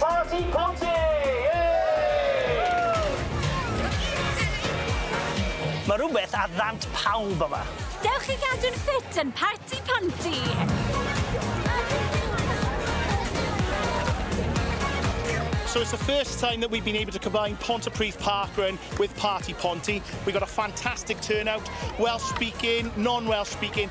Parti Ponty! Yay! Mae rhywbeth ar ddant pawb yma. Dewch i gadw'n ffit yn Parti Ponty! So it's the first time that we've been able to combine Pontypridd Park Run with Parti Ponty. We got a fantastic turnout, Welsh speaking, non-Welsh speaking,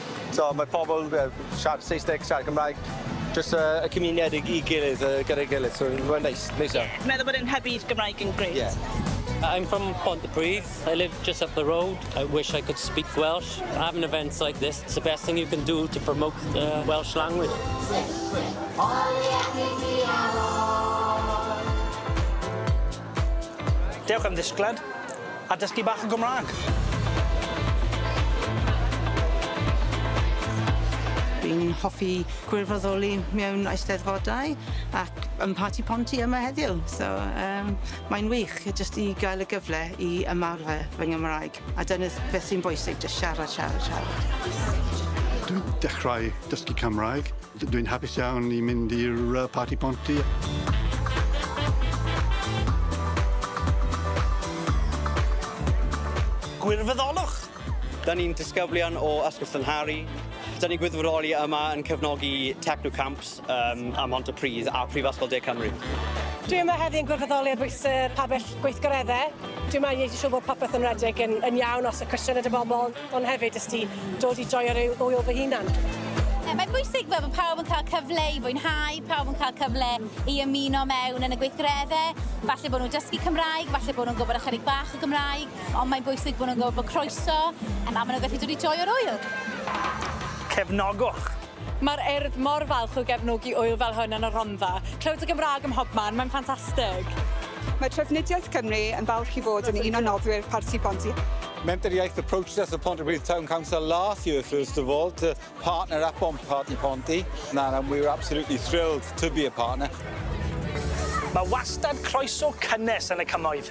So mae pobl yy siarad Saesneg, siarad Cymraeg, jyst yy y cymuned i i gilydd yy gyda'i gilydd so mae'n neis, neis iawn. Ie. Meddwl bod e'n hybu Gymraeg yn grêt. Ie. I'm from Pontypridd, I live just up the road, I wish I could speak Welsh, having events like this, it's the best thing you can do to promote the Welsh language. Sut wyt? O ie dwi diawl! Dewch am ddisgled a dysgu bach o Gymrâg. Dwi'n hoffi gwirfoddoli mewn eisteddfodau ac yn Parti Ponty yma heddiw, so yym mae'n wych jyst i gael y gyfle i ymarfer fy Nghymraeg, a dyna beth sy'n bwysig, jyst siarad, siarad, siarad. Dwi'n dechrau dysgu Cymraeg Dwi'n hapus iawn i mynd i'r yy parti ponty. Gwirfoddolwch! Dan ni'n disgyblion o Ysgol Llynhari. Dan ni'n gwirfoddoli yma yn cefnogi Techno Camps um, a Montepridd a Prifysgol De Cymru. Dwi yma heddi yn gwirfoddoli ar bwys y pabell gweithgareddau. Dwi yma i wneud yn siŵr bod popeth yn redeg yn, yn iawn os y cwestiwn y bobl. Ond hefyd, jyst i dod i joio rhyw ŵyl fy hunan. Mae'n bwysig fel bod pawb yn cael cyfle i fwynhau, pawb yn cael cyfle i ymuno mewn yn y gweithgareddau. Falle bod nhw'n dysgu Cymraeg, falle bod nhw'n gwybod ychydig bach o Gymraeg, ond mae'n bwysig bod nhw'n gwybod bod croeso, a maen nhw'n gallu dod i joio'r ŵyl. Cefnogwch! Mae'r Urdd mor falch o gefnogi ŵyl fel hwn yn y Rhondda. Clywed y Gymraeg ym mhobman, mae'n ffantastig! Mae Trafnidiaeth Cymru yn falch i fod yn un o noddwyr Parti Pontypridd. Menter-iaith approached us at Pontypridd Town Council last year first of all to partner up on Parti Ponty and we were absolutely thrilled to be a partner. Mae wastad croeso cynnes yn y Cymoedd.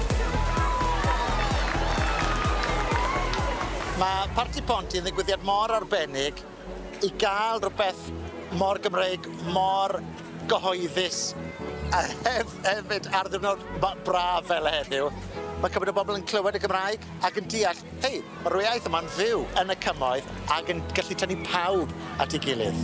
Mae Parti Ponty yn ddigwyddiad mor arbennig i gael rhywbeth mor Gymreig, mor gyhoeddus a hef- hefyd ar ddiwrnod ma- braf fel heddiw. Mae cymaint o bobl yn clywed y Gymraeg ac yn deall, hei, mae'r iaith yma'n fyw yn y cymoedd ac yn gallu tynnu pawb at ei gilydd.